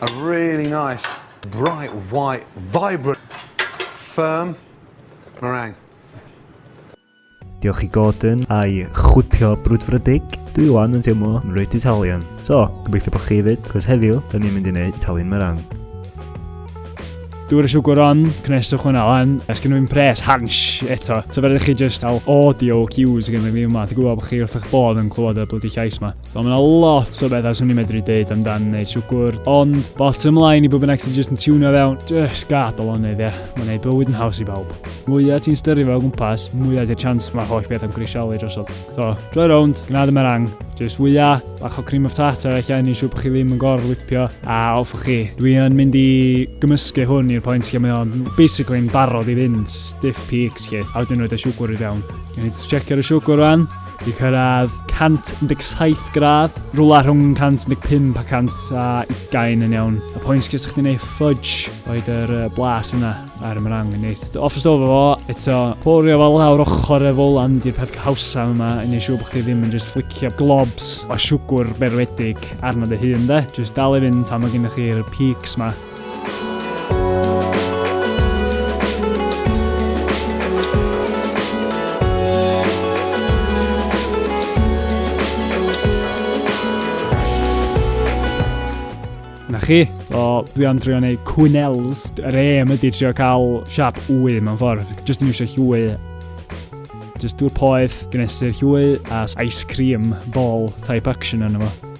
A really nice, bright, white, vibrant, firm meringue. Diolch i Gordon a'i chwipio brwdfrydig. Dwi wan yn teimlo yn reit Italian. So, gobeithio bod chi hefyd, cos heddiw, dyn ni'n mynd i wneud Italian merang. Dwi'n siwgr on, cneswch hwnna lan, a sgyn nhw'n pres, hans, eto. So fe rydych chi just al audio cues gen i fi yma, ti'n gwybod bod chi wrth eich bod yn clywed y bloody llais yma. Wel, mae yna lot o bethau swn i'n medru dweud amdan neu siwgwr, ond bottom line i bob bynnag sy'n jyst yn tiwnio fewn, jyst gad o lonydd, ie. Mae'n gwneud bywyd yn haws i bawb. Mwyaf ti'n styru fel gwmpas, mwyaf di'r chance mae holl beth am grisialu drosodd. So, droi rownd, gnad y merang, jyst wyia, bach o cream of tartar eich anni siw bod chi ddim yn gor lipio, a off o chi. Dwi yn mynd i gymysgu hwn i'r pwynt lle mae o'n basically yn barod i fynd, stiff peaks chi, a wedyn roed y siwgwr i fewn. Yn i checio'r siwgwr rhan, Wedi cyrraedd 117 gradd, rhywle rhwng 115 a 120 yn iawn. Y pwynt lle sa'ch chi'n ei ffudge, roed yr blas yna ar y mrang yn neis. Off y stof efo, eto, porio fel lawr ochr y folan di'r peth cawsa yma, yn ei siw bod chi ddim yn just flicio globs o siwgwr berwedig arno dy hun de. Just dal i fynd tan mae gennych chi'r peaks ma. Na chi, o, dwi am drio neu cwynels. Yr aim ydy trio cael siap wy mewn ffordd. Just yn eisiau llwy. Just dŵr poeth, gnesu'r llwy, a ice cream ball type action yna fo.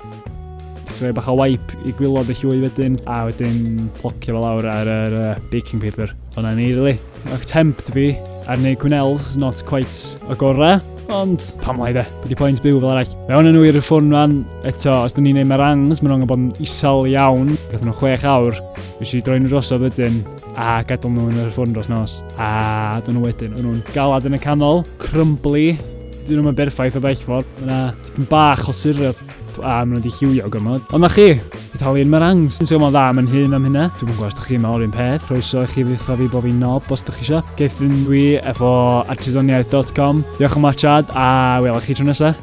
Rhoi bach o wipe i gwylod y llwy wedyn, a wedyn plocio fel awr ar yr uh, baking paper. O'na ni, really. Ac tempt fi ar neu cwnels, not quite y gorau, ond pam lai de, bod i pwynt byw fel arall. Fe o'n nhw i'r ffôn rhan, eto, os da ni'n neud merangs, maen nhw'n bod yn isal iawn, gath nhw chwech awr, fi si droi'n drosodd wedyn, a gadael nhw yn yr ffôn dros nos, a dyn nhw wedyn, o'n nhw'n galad yn y canol, crumbly, dyn nhw'n berffaith o bell ffordd, Dipyn bach o syrup a maen nhw wedi lliwio gormod. Ond na chi, Italian meringues. Dwi'n teimlo'n dda am yn hun am hynna. Dwi'n gwybod os ydych chi'n meddwl un peth, croeso i chi dditha fi bod fi'n nob os ydych chi eisiau. Geithrin dwi efo artisaniaeth.com. Diolch am watchad a welwch chi tro nesaf.